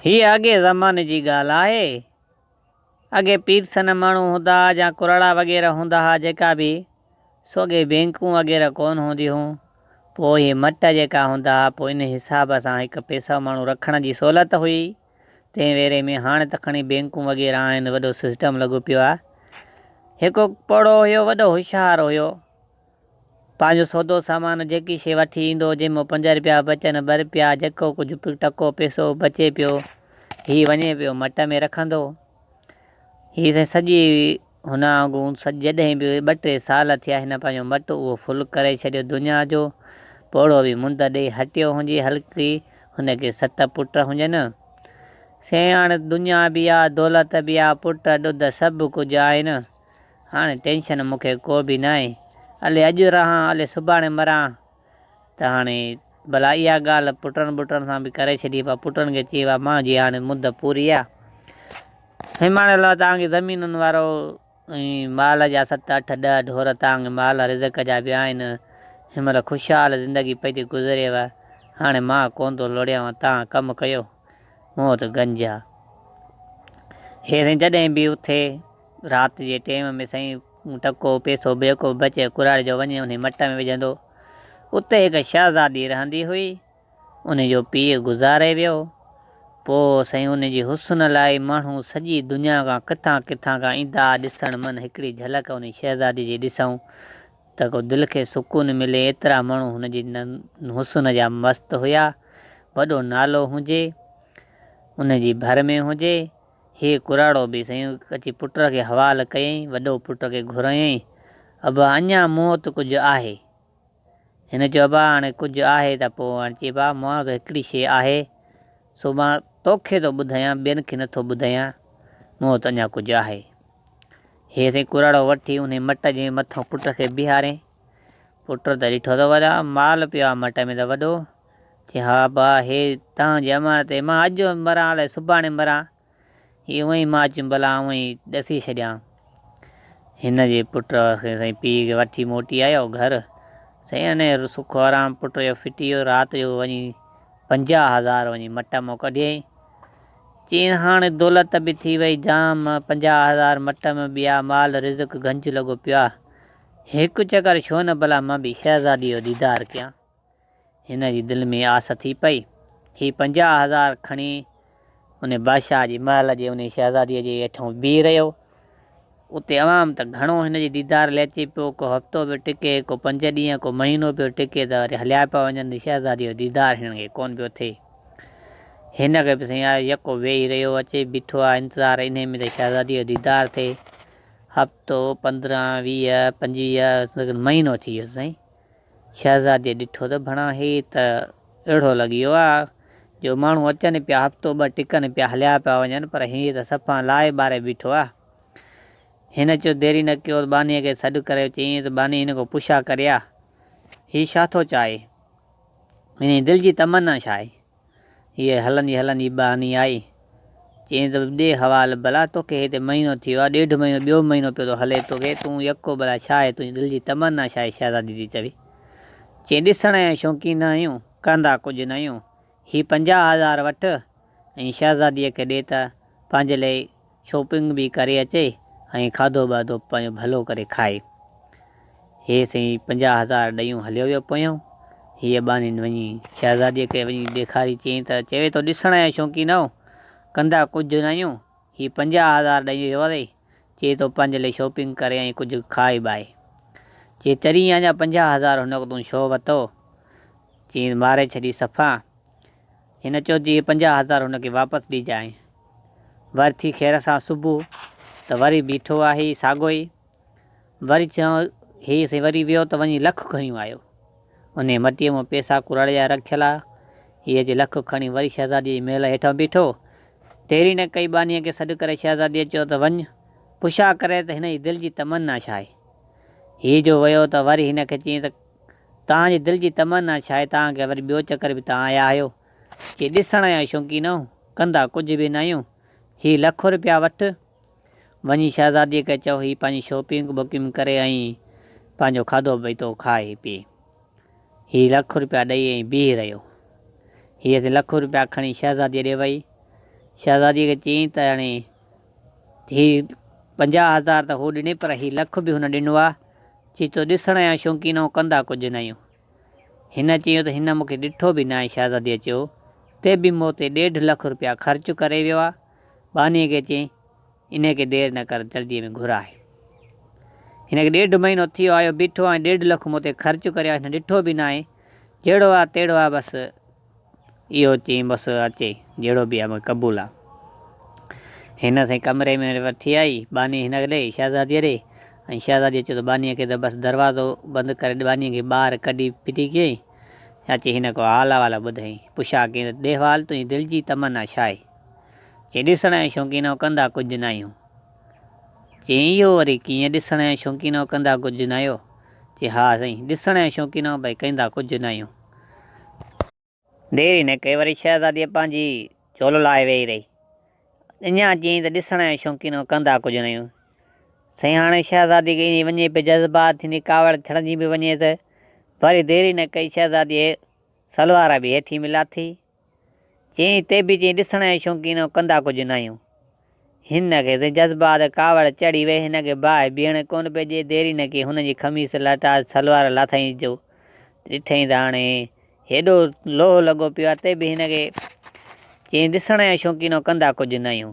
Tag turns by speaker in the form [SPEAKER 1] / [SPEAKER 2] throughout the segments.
[SPEAKER 1] هيء اڳئين زماني جي ڳالهه آهي. اڳي پير سنه ماڻهو هوندا ها يا ڪرڙا وغيره هوندا ها جيڪا به سو اڳي بينڪون وغيره ڪونه هونديون هون پوء هي مٽ جيڪا هوندا ها پوء ان حساب سان هڪ پيسو ماڻهو رکڻ جي سهولت هئي تنهن ويري ۾ هاڻ ته کڻي بينڪون وغيره آهن وڏو سسٽم لڳو پيو آهي هڪ پوڙهو هيو وڏو هوشيار هيو. پنهنجو سودو سامان جيڪي شيء وٺي ايندو، جنهن مان پنج رپيا بچن، ٻه رپيا، جيڪو ڪجهه به ٽڪو پئسو بچي پيو، هي وڃي پيو مٽ ۾ رکندو. هي سائين سڄي هن آنگون جڏهن به ٻه ٽي سال ٿيا، هن پنهنجو مٽ اهو ڦل ڪري ڇڏيو دنيا جو. پوڙهو به منڌ ڏيئي هٽيو هنجي هلڪي هن کي ست پٽ هنجن. سياڻ دنيا به آ، دولت به آ، پٽ ڏڌ سڀ ڪجهه آهن. هاڻي ٽينشن مون کي ڪو به ناهي، الي اڄ رهان الي سڀاڻي مران ته هاڻي ڀلا اها ڳالهه پٽن ٻٽن سان به ڪري ڇڏي پر پٽن کي چئي وا مان جي هاڻي مد پوري آ هيماڻي الله توهان کي زمينن وارو ۽ مال جا ست اٺ ڏهه ڍور توهان کي مال رزق جا به آهن هن مهل خوشحال زندگي پئي ٿي گذريو هاڻي مان ڪون ٿو لوڙيانو توهان ڪم ڪيو مون وٽ گنج آ هي سائين جڏهن به اٿي. رات جي ٽيم ۾ سائين مون ٽڪو، پيسو، بيڪو بچ ۽ ڪراڙي جو وڃي انهي مٽ ۾ وجهندو. اتي هڪ شهزادي رهندي هئي. انهي جو پيء گذاري ويو. پوء سائين انهي جي حسن لاء ماڻهو سڄي دنيا کان ڪٿان ڪٿان کان ايندا ها ڏسڻ من هڪڙي جهلڪ انهي شهزادي جي ڏسون ته ڪو دل کي سڪون ملي ايترا ماڻهو هن جي حسن جا مست هيا. وڏو نالو هجي. انهي جي ڀر ۾ هجي. هيء ڪراڙو به سيون اچي پٽ کي حوال ڪيائين. وڏو پٽ کي گهرايائين، ابا اڃا مون وٽ ڪجهه آهي؟ هن چيو، ابا هاڻي ڪجهه آهي ته پوء هاڻي چئي ابا مون وٽ هڪڙي شيء آهي، سو مان توکي ٿو ٻڌايان، ٻين کي نٿو ٻڌايان، مون وٽ اڃا ڪجهه آهي. هيء سيون ڪراڙو وٺي انهي مٽ جي مٿان پٽ کي بيهاريائين. پٽ ته ڏٺو ته وڏا مال پيو آهي مٽ ۾ ته وڏو چي ها ابا هي تنهن جي امر تي مان اڄ مران الائي سڀاڻي مران هي اوهين مان اچيم ڀلا آئون ئي ڏسي ڇڏيان هن جي پٽ کي سائين پيء کي وٺي موٽي آيو گهر سائين انهي سک و آرام پٽ جو ڦٽي ويو رات جو وڃي پنجاهه هزار وڃي مٽ مان ڪڍيائين چين هاڻي دولت به ٿي وئي جام پنجاهه هزار مٽ ۾ ٻيا مال رزق گهنج لڳو پيو آ هڪ چڪر ڇو نه ڀلا مان به شهزادي جو ديدار ڪيان. هن جي دل ۾ آس ٿي پئي. هي پنجاهه هزار کڻي انهي بادشاهه جي محل جي انهي شهزاديء جي ويٺون بيهي رهيو. اتي عوام ته گهڻو هن جي ديدار لئي اچي پيو. ڪو هفتو پيو ٽڪي، ڪو پنج ڏينهن، ڪو مهينو پيو ٽڪي ته وري هليا پيا وڃن. هن شهزاديء جو ديدار هنن کي ڪونه پيو ٿئي. هن کي به سائين آيو يڪو ويهي رهيو اچي بيٺو آهي انتظار انهي ۾ ته شهزاديء جو ديدار ٿئي. هفتو، پندرهن، ويهه، پنجويهه، سندن مهينو ٿي ويس سائين. شهزاديء ڏٺو ته ڀڻا هي ته اهڙو لڳيو آ جو ماڻهو اچن پيا هفتو ٻه ٽڪن پيا هليا پيا وڃن پر هي ته صفا لائي ٻاري بيٺو آ. هن چيو ديري نه ڪيو ته ٻانهيء کي سڏ ڪريو چيائين ته ٻانهي هن کان پڇا ڪري آ هي ڇا ٿو چاهي؟ هن جي دل جي تمنا ڇا آهي؟ هيء هلندي هلندي ٻانهي آئي، چيائين ته ڏي حوال ڀلا توکي هتي مهينو ٿي ويو آهي، ڏيڍ مهينو، ٻيو مهينو پيو ٿو هلي توکي، تون يڪو ڀلا ڇا آهي تنهنجي دل جي تمنا ڇا آهي شهزادي ٿي چوي، چيائين ڏسڻ جا شوقين آهيون، ڪندا ڪجهه نه آهيون، هي پنجاهه هزار وٺ ۽ شهزاديء کي ڏي ته پنهنجي لاء شاپنگ به ڪري اچي ۽ کاڌو ٻاڌو پنهنجو ڀلو ڪري کائي. هيء سئي پنجاهه هزار ڏيون هليو ويو پويان. هيء ٻانهين وڃي شهزاديء کي وڃي ڏيکاري چيائين ته چوي ٿو ڏسڻ جا شوقين آهيو، ڪندا ڪجهه نه آهيون، هي پنجاهه هزار ڏيئي ويو اٿئي، چي تو پنهنجي لئي شاپنگ ڪري ۽ ڪجهه کائي بائي. چي چرين اڃا پنجاهه هزار هن وقت تون ڇو وتو؟ چيائين ماري ڇڏي صفا. هن چيو ته اهي پنجاهه هزار هن کي واپس ڏجانء. ور ٿي خير سان صبح ته وري بيٺو آهي ساڳيو ئي. وري چيائون هي سائين وري ويو ته وڃي لک کڻي آيو. انهيء مٽيء مون پئسا ڪرڙيا رکيل آ. هيء جي لک کڻي وري شهزاديء جي محل هيٺان بيٺو. ديري نه ڪئي ٻانهيء کي سڏ ڪري شهزاديء چيو ته وڃ پڇا ڪري ته هن جي دل جي تمنا ڇا آهي. هي جو ويو ته وري هن کي چيائين ته توهان جي دل جي تمنا ڇا آهي توهان کي وري ٻيو چڪر به توهان آيا آهيو جي ڏسڻ جا شوقين آهيو ڪندا ڪجهه به نه آهيون هي لک روپيا وٺ وڃي شهزادي کي چئو هي پنهنجي شوپنگ بڪنگ ڪري ۽ پنهنجو کاڌو پيتو کائي پي هي لک روپيا ڏئي ۽ بيهي رهيو هيء لک روپيا کڻي شهزادي ڏي وئي شهزادي کي چيائين ته هاڻي هي پنجاهه هزار ته هو ڏني پر هي لک به هن ڏنو آ، چي تو ڏسڻ جا شوقين آهون ڪندا ڪجهه نه آهيون. هن چيو ته هن مونکي ڏٺو به ناهي شهزاديء چيو تي به مون تي ڏيڍ لک روپيا خرچ ڪري ويو آ، ٻانهيء کي چيائين انهيء کي دير نه ڪر جلديء ۾ گهر آهي. هن کي ڏيڍ مهينو ٿي ويو آ اهو بيٺو آ ۽ ڏيڍ لک مون تي خرچ ڪريو آ هن ڏٺو به ناهي جهڙو آ تهڙو آ بس. اهو چئي بس اچي جهڙو به آهي مون کي قبول آهي. هن سائين ڪمري ۾ وٺي آئي ٻانهي هن کي ڏئي شهزاديء ڏي ۽ شهزاديء چيو ته ٻانهيء کي ته بس دروازو بند ڪري ٻانهيء کي ٻاهر ڪڍي ڦٽي ڪيائين اچي هن ڪو حال احوال ٻڌائين پڇا ڪيائين ته ڏيهوال تنهنجي دل جي تمنا ڇا آهي؟ چئي ڏسڻ جا شوقين آهيون ڪندا ڪجهه نه آهيون. چئي اهو وري ڪيئن ڏسڻ جا شوقين آهيون ڪندا ڪجهه نه آهيو؟ چئي ها سائين ڏسڻ جا شوقين آهيون پر ڪندا ڪجهه نه آهيون. دير ئي نه ڪئي، وري شهزاديء پنهنجي جهولو لاهي ويهي رهي. اڃا چيائين ته ڏسڻ ۽ شوقينو ڪندا ڪجهه نيون. سائين هاڻي شهزادي کي ايندي وڃي پئي جذبات ٿيندي ڪاوڙ چڙهندي به وڃيس. وري دير ئي نه ڪئي شهزاديء سلوار به هيٺينء ۾ لاٿي چين تي به چين ڏسڻ جي شوقينو ڪندا ڪجهه ناهيون. هن کي ته جذبات ڪاوڙ چڙهي وئي هن کي باهه بيهڻ ڪونه پئي ڏي دير ئي نه ڪئي هن جي خميس لهٽاس سلوار لاٿائينس جو ڏٺئين ته هاڻي هيڏو لوهه لڳو پيو آهي تي به هن کي چين ڏسڻ جي شوقينو ڪندا ڪجهه ناهيون.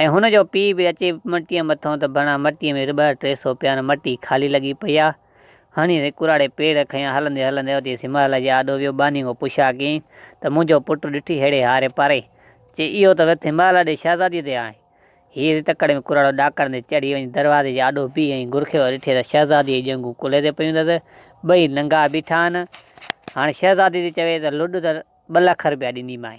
[SPEAKER 1] ۽ هن جو پيء به اچي مٽيء مٿان ته ڀرڻا مٽيء ۾ رٻهه ٽي سو پيا نه مٽي خالي لڳي پئي آ. هڻي ري ڪراڙي پير کنيا هلندي هلندي اوچي سمهل جي آڏو ويو ٻانهي کان پڇيا ڪين ته منهنجو پٽ ڏٺي ههڙي هاري پاري چي اهو ته وٿ همالا ڏي شهزاديء تي آهي. هيء ري تڪڙ ۾ ڪراڙو ڏاڪڻندي چڙهي وڃي دروازي جي آڏو بيهي ۽ گرخيو ڏٺي ته شهزاديء جي ڄنگهون ڪلهي تي پيون اٿس ٻئي ننگا بيٺا آهن هاڻي شهزادي ٿي چوي ته لڏ ته ٻه لک رپيا ڏينديمانء.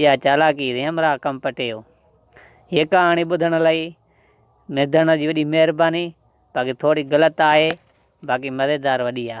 [SPEAKER 1] اها چالاڪي ريم را ڪم پٽيو. هيء ڪهاڻي ٻڌڻ لئي ميدڻ جي وڏي مهرباني باقي ٿوري غلط آهي باقي مزيدار وڏي آ.